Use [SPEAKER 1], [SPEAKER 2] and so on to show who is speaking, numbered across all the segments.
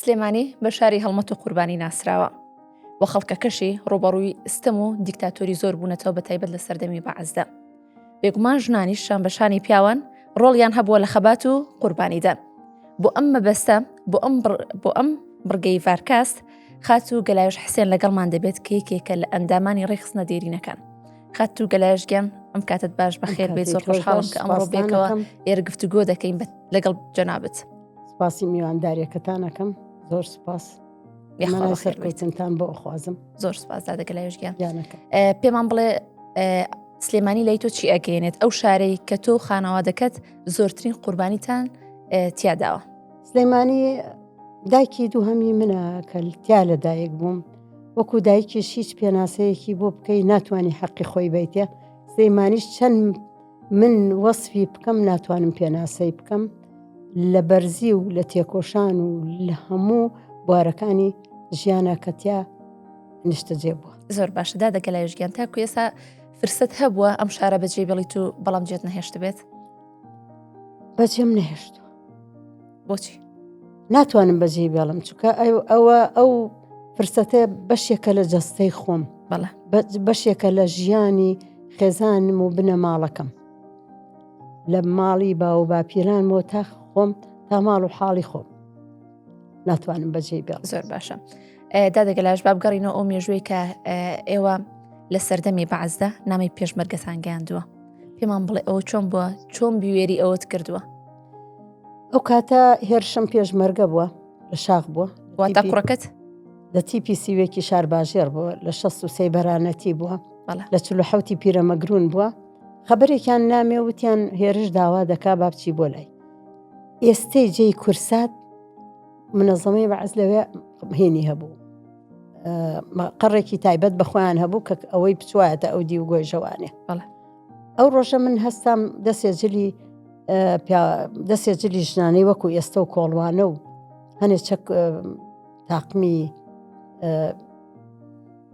[SPEAKER 1] سلێمانی بە شاری هەڵمەت و قوربانی ناسراوە و خەڵکەکەشی ڕوبەڕووی ستەم و دیکتاتۆری زۆر بوونەتەوە بە تایبەت لە سەردەمی بەعزدا بێگومان ژنانی شان بە شانی پیاوان ڕۆڵیان هەبووە لە خەبات و قوربانیدان بۆ ئەم مەبەستە بۆ ئەم بۆ ئەم بڕگەی ڤارکاست خات و گەلاوش حسێن لەگەڵمان دەبێت کە یەکێکە لە ئەندامانی ڕێکخستنە دێرینەکان خات و گەلایشگەم ئەم کاتت باش بەخێر بێ زۆر خۆشحاڵم کە ئەمڕۆ بێکەوە ئێرە گفتوگۆ دەکەین لەگەڵ جەنابەت. سپاسی
[SPEAKER 2] میوانداریەکەتان ئەەکەم زۆر سپاس سەرکەوتنتان بۆ ئەخوازم زۆر سپاسدادەکە لە
[SPEAKER 1] یشگیان پێمان
[SPEAKER 2] بڵێ
[SPEAKER 1] سلێمانی لای تۆ چی ئەگەێنێت ئەو شارەی کە تۆ خانەوادەکەت زۆرترین قوربانیتان تیاداوە سلێمانی
[SPEAKER 2] دایکی دووهەمی منە کە تیا لە دایک بووم وەکو دایکیش هیچ پێناسەیەکی بۆ بکەی ناتوانانی حەقی خۆی بیتە سلێمانیش چەند من وەسفی بکەم ناتوانم پێناسەی بکەم لە بەرزی و لە تێکۆشان و لە هەموو بوارەکانی ژیانە کەتیا نیشتەجێ بووە زۆر باشدا دەگە لە
[SPEAKER 1] ژگیان تاکو ئێسا فرسەت هەبووە ئەم شارە بەجێ بڵیت و بەڵام جێت نەهێشت بێت
[SPEAKER 2] بەجێم نەهێشت بۆچی
[SPEAKER 1] ناتوانم
[SPEAKER 2] بەجێ بێڵم چکە ئەوە ئەو فرسەتە بەشێکە لە جەستەی خۆم بەڵە بەشێکە لە ژیانی خێزانم و بنەماڵەکەم لە ماڵی باو و باپیران بۆ تا خۆم تا ماڵ و حاڵی خۆم ناتوانم بەجێ بێڵ زۆر باشە
[SPEAKER 1] دادەگەلاش بابگەڕینەوە ئەو مێژووی کە ئێوە لە سەردەمی بەعزدا نامی پێشمەرگەسان گەیاندووە پێمان بڵێ ئەوە چۆن بووە چۆن بوێری ئەوەت کردووە
[SPEAKER 2] ئەو کاتە هێرشم پێشمەرگە بووە لە شاخ بووە واتە کوڕەکەت
[SPEAKER 1] لە تیپی
[SPEAKER 2] سیوێکی شارباژێر بووە لە شە سوسی بەرانەتی بووە لە چلو حوتی پیرەمەگرون بووە خبرێکیان نامێ وتیان هێرش داوا دەکا بابچی بۆ لای ئێستەی جێی کورسات منەزەمەی بەعز لەوێ هێنی هەبوو قەڕێکی تایبەت بەخۆیان هەبوو کە ئەوەی بچوایەتە ئەو دی و گۆی ژەوانێ بەڵێ ئەو ڕۆژە من هەستام دەسێ جلی دەسێ جلی ژنانەی وەکو ئێستا و کۆڵوانە و هەنێ چەک تاقمی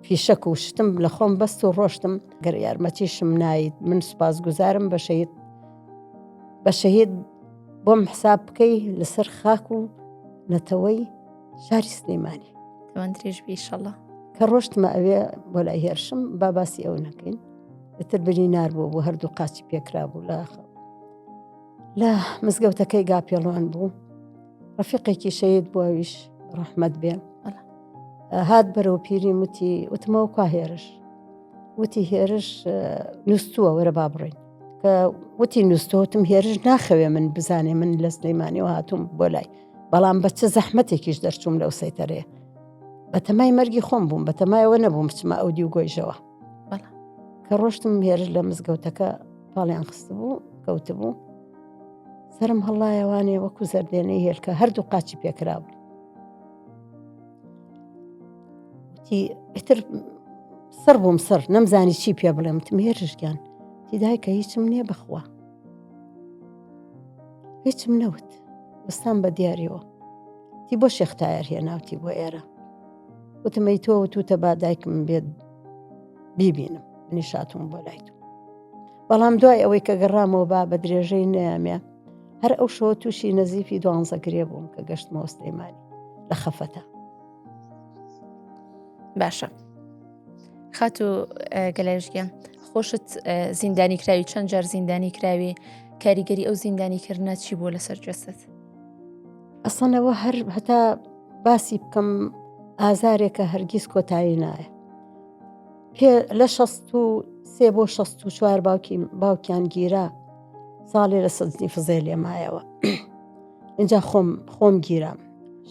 [SPEAKER 2] فیشەک و شتم لە خۆم بەست و ڕۆشتم گەر یارمەتیشم نایت من سوپاس گوزارم بە شەید بە شەهید بۆم حساب بکەی لەسەر خاک و نەتەوەی شاری سلەیمانی تەوەندریش
[SPEAKER 1] بیشەڵە کە ڕۆشتمە
[SPEAKER 2] ئەوێ بۆ لای هێرشم با باسی ئەو نەکەین ئتر برینار بوو بۆ هەردوو قاچی پێکرا بوو لە لە مزگەوتەکەی گاپێڵوان بوو ڕفیقێکی شەید بۆویش ڕەحمەت بێ هات بەرەو پیری وتی وتمەوە کا هێرش وتی هێرش نووسووە وەرە با بڕین کە وتی نووسۆتم هێرش ناخەوێ من بزانێ من لە سلەیمانیەوە هاتووم بۆ لای بەڵام بە چ زەحمەتێکیش دەرچووم لەو سەیتەرەیە بەتەمای مەرگی خۆم بووم بەتەمایەوە نەبووم بچمە ئەو دی و گۆیژەوە کە ڕۆشتم هێرش لە مزگەوتەکە پاڵیان خست بوو کەوت بوو سرم هەڵایەوانێ وەکو زەردێنەی هێلکە هەردوو قاچی پێکرا بوو ئیتر سڕ بووم سڕ نەمزانی چی پێ بڵێم تم هێرشگیان تیدای کە هیچم نییە بخوا هیچم نەوت وستان بە دیارەوە تی بۆ شێختایەر هێناوتی بۆ ئێرە وتم ئەی تۆ وتوتە با دایکم بێت بیبینم منی شاتوم بۆ لای تۆ بەڵام دوای ئەوەی کە گەڕامەوە با بە درێژەی نیامە هەر ئەو شەوە تووشی نەزیفی دوانزە گرێ بووم کە گەشت مۆستەیمانی لە خەفەتە
[SPEAKER 1] باشە خات و گەلایشگە خۆشت زیندانی کراوی چەند جار زیندانی کراوی کاریگەری ئەو زیندانی کردە چی بووە لەسەر جەسەت
[SPEAKER 2] ئەسانەوە هەر هەتا باسی بکەم ئازارێکە هەرگیز کۆتایی نایە پێ لە شەست و سێ بۆ شەست و چوار باوکی باوکیان گیرا ساڵێ لە سەدنی فزێ لێ مایەوە اینجا خۆم خۆم گیرام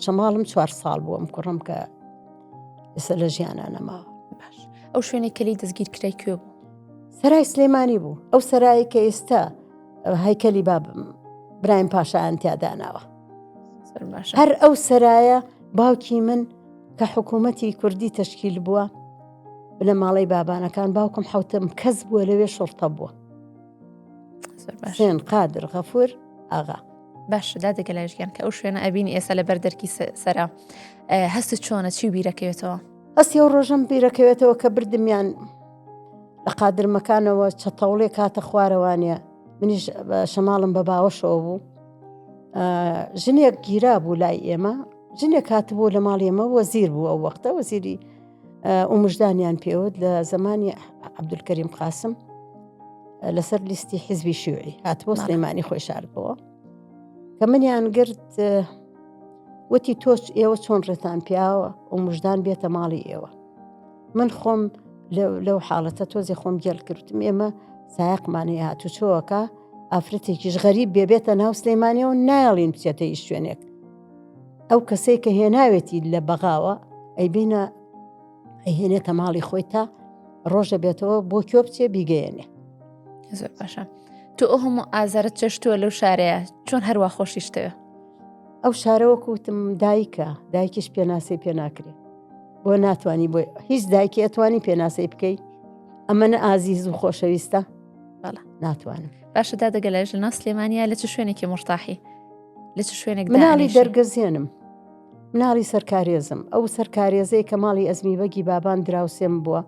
[SPEAKER 2] شەماڵم چوار ساڵ بووم کوڕم کە ئێستا لە ژیانە نەماوە باش ئەو
[SPEAKER 1] شوێنێک کەلی دەستگیر کرای کوێ بوو سەرای سلێمانی
[SPEAKER 2] بوو ئەو سەرایی کە ئێستا هەیکەلی باب برایم پاشایان تیاداناوە هەر ئەو سەرایە باوکی من کە حکوومەتی کوردی تەشکیل بووە لە ماڵی بابانەکان باوکم حوتم کەس بووە لەوێ شڕتە بووە شوێن قادر غەفور ئاغا باشدا
[SPEAKER 1] دەگە لایشگەن کە ئەو شوێنە ئەبینی ئێستا لە بەر دەرکی سەرا هەست چۆنە چی بیرەکەوێتەوە ئەسی ئەو ڕۆژەم
[SPEAKER 2] بیرەکەوێتەوە کە بردمیان لە قادرمەکانەوە چەتەوڵێ کاتە خوارەوانە منیش شەماڵم بە باوەشەوە بوو ژنێک گیرا بوو لای ئێمە ژنێک کاتبوو لە ماڵ ئێمە وەزیر بوو ئەو وەختە وەزیری ئومژدانیان پێوت لە زمانی عبدولکەریم قاسم لەسەر لیستی حیزبی شوعی هاتبوو سلێمانی خۆی شاربەوە کە منیان گرت وتی تۆچ ئێوە چۆن ڕێتان پیاوە و مژدان بێتە ماڵی ئێوە من خۆم لەو حاڵەتە تۆزی خۆم گێل کردم ئێمە سایقمانەی هاتوچۆەکە ئافرەتێکیش غەریب بێبێتە ناو سلەیمانە و نایڵین بچێتە هیچ شوێنێک ئەو کەسەی کە هێناوێتی لە بەغاوە ئەی بینە ئەهێنێتە ماڵی خۆی تا ڕۆژە بێتەوە بۆ کۆ بچێ بیگەیەنێ زۆر
[SPEAKER 1] باشە تو ئەو هەموو ئازارت چێشتووە لەو شارەیە چۆن هەروە خۆشیشتەوە ئەو
[SPEAKER 2] شارەوە کوتم دایکە دایکیش پێناسی پێناکرێ بۆ ناتانی بۆی هیچ دایکی ئەتوانی پێناسەی بکەی ئەمە نە ئازیز و خۆشەویستە بەڵە ناتوانم باشە دا
[SPEAKER 1] دەگەلایش لە ناس لێمانیا لە چ شوێنێکی مرتاحی لە چ شوێنێک مناڵی دەرگەزیێنم
[SPEAKER 2] مناڵی سەرکارێزم ئەو سەرکارێزەی کە ماڵی ئەزمی بەگی بابان دراوسێم بووە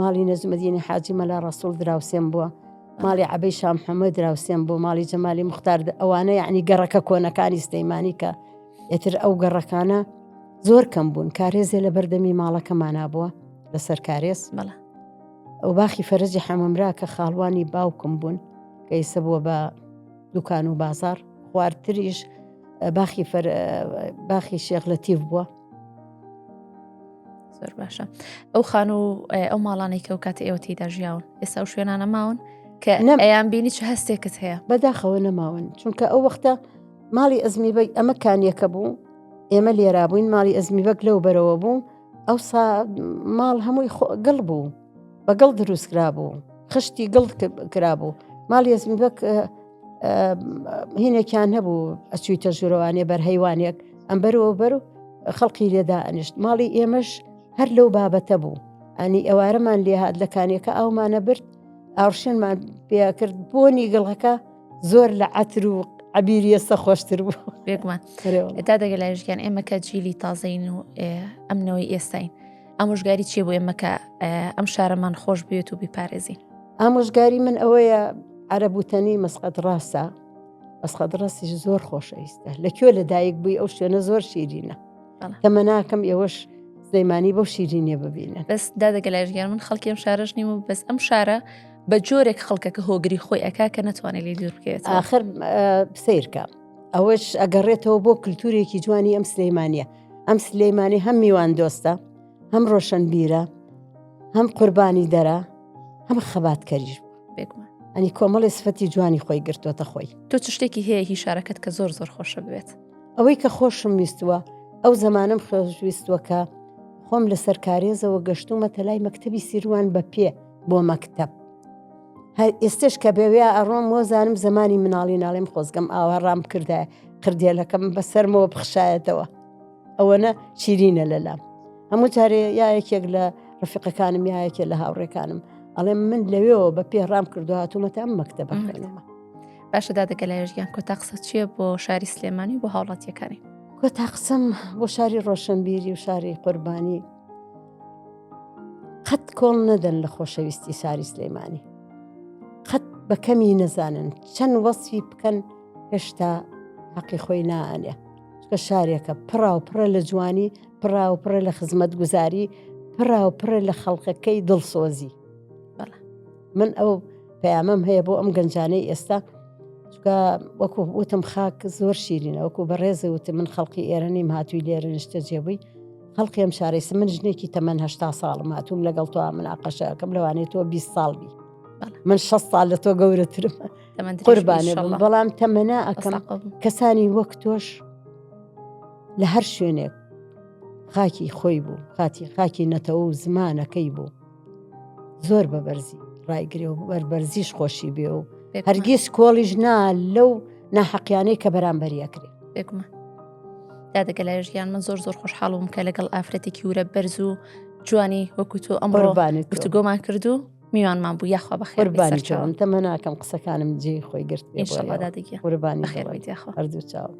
[SPEAKER 2] ماڵی نەزمەدینی حاجی مەلا ڕسوڵ دراوسێم بووە ماڵی عبەی شام حەمە دراوسێم بۆ ماڵی جەمالی مختار ئەوانە یعنی گەڕەکە کۆنەکانی سلەیمانی کە ئێتر ئەو گەڕەکانە زۆر کەم بوون کارێزێ لە بەردەمی ماڵەکەمانە بووە لەسەر کارێز بەڵە ئەو باخی فەرجی حەمەمرا کە خاڵوانی باوکم بوون کە ئیسە بووە بە دوکان و بازار خواردتریش باخی باخی شێخ لە تیف بووە
[SPEAKER 1] زۆر باشە ئەو خان و ئەو ماڵانەی کە و کات ئێوە تێدا ژیاون ئێستا و شوێنانە ماون کە نەم ئەیان بینی چ هەستێکت هەیە بەداخەوە نەماون
[SPEAKER 2] چونکە ئەو وەختە ماڵی ئەزمی بەگ ئەمە کانیەکە بوو ئێمە لێرا بووین ماڵی ئەزمی بەگ لەو بەرەوە بوو ئەو ماڵ هەمووی گڵ بوو بە گڵ دروستکرا بوو خشتی گڵ کرا بوو ماڵی ئەزمی بەک هینێکیان هەبوو ئەچوویتە ژوورەوانێ بەرهەیوانێک ئەم بەرەوە بەر و خەڵکی لێدا ئەنیشت ماڵی ئێمەش هەر لەو بابەتە بوو ئەنی ئەوارەمان لێهات لە کانیەکە ئاومانە برد ئاڕشێنمان پێکرد بۆنی گڵەکە زۆر لە عتر و عبیری ئێستا خۆشتر بوو بێگومان
[SPEAKER 1] تا دەگە لایژگەن ئێمە کە جیلی تازەین و ئەمنەوەی ئێستاین ئامۆژگاری چیە بۆ ئێمە کە ئەم شارەمان خۆش بێت و بیپارێزین ئامۆژگاری من
[SPEAKER 2] ئەوەیە عەرەبوتەنی مەسقەت ڕاستە ئەسقەت ڕاستیش زۆر خۆشەویستە لە کوێ لە دایک بووی ئەو شوێنە زۆر شیرینە تەمە ناکەم ئێوەش سلەیمانی بۆ شیرینە ببینە بەس دادەگەلایژگەر
[SPEAKER 1] من خەڵکیم شارژ نیم و بەس ئەم شارە بە جۆرێک خەڵکەکە هۆگری خۆی ئەک کە نەتوانێت لێ دوور بکەێت آخر
[SPEAKER 2] سیرکە ئەوەش ئەگەڕێتەوە بۆ کللتورێکی جوانی ئەم سلەیمانە ئەم سلەیمانی هەم میوان دۆستە هەم ڕۆشنبیرە هەم قوربانی دەرە هەم خەبات کەریش بێگومان
[SPEAKER 1] ئەنی کۆمەڵی
[SPEAKER 2] سفەتی جوانی خۆی گرتووەتە خۆی تۆ چ شتێکی هەیە هی
[SPEAKER 1] شارەکەت کە زۆر زۆر خۆشە بێت ئەوەی کە خۆشم
[SPEAKER 2] ویستووە ئەو زمانم خۆشویستووەکە خۆم لە سەرکارێزەوە گەشتومەتە لای مەکتتەبی سیروان بە پێ بۆ مەکتب هەر ئێستش کە بەوێ ئەڕۆم وەزانم زمانی مناڵی ناڵێم خۆزگەم ئاوا ڕام کردە قردێلەکەم بەسەرمەوە بخشایەتەوە ئەوەنە شیرینە لەلام هەموو جارێ یاەکێک لە ڕفقەکانم یاەکێ لە هاوڕێکانم ئەڵێم من لەوێەوە بە پێ ڕام کردو هاتوومەتە ئەم مەکتە بەکردەوە باشە
[SPEAKER 1] دادەگە لە ێژگیان کۆتا قسە چییە بۆ شاری سلێمانی بۆ هاوڵاتیەکانی کۆتا قسم
[SPEAKER 2] بۆ شاری ڕۆشنبیری و شاری قوربانی قەت کۆڵ نەدەن لە خۆشەویستی شاری سلەیمانی قەت بە کەمی نەزانن چەند وەسفی بکەن هێشتا حەقی خۆی نانێ چکە شارێکە پڕا و پڕە لە جوانی پڕا و پڕە لە خزمەت گوزاری پڕا و پڕە لە خەڵقەکەی دڵسۆزی من ئەو پەیامەم هەیە بۆ ئەم گەنجانەی ئێستا چکە وەکو وتم خاک زۆر شیرینە وەکو بەڕێزە وتم من خەڵکی ئێرە نیم هاتووی لێرە نیشتە جێبووی خەڵقی ئەم شارەی سم من ژنێکی تەمەەن هشتا ساڵم هاتووم لەگەڵ تۆ مناقەشەکەم لەوانێت تۆ 20 ساڵ بی من 6 ساڵ لە تۆ گەورەترم قوربانێ بم بەڵام تەمەنا ئەکەم کەسانی وەک تۆش لە هەر شوێنێک خاکی خۆی بوو خاتی خاکی نەتەوە و زمانەکەی بوو زۆر بە بەرزی ڕایگرێ و بەربەرزیش خۆشی بێ و هەرگیز کۆڵیش نا لەو ناحەقیانەی کە بەرامبەریەکرێ بێکمە
[SPEAKER 1] دادەگە لای ژیان من زۆر زۆر خۆشحاڵم کە لەگەڵ ئافرەتێکی ورە بەرز و جوانی وەکو تۆ ئەمڕۆبانێت گفتوگۆمان کردو میوانمان بوو یاخوا بەخێربانی چاوم تەمە ناکەم
[SPEAKER 2] قسەکانم جێ خۆی گرت ئێشڵدادەگی قوربانی خێربیت
[SPEAKER 1] یاخوا هەردوو
[SPEAKER 2] چاوک.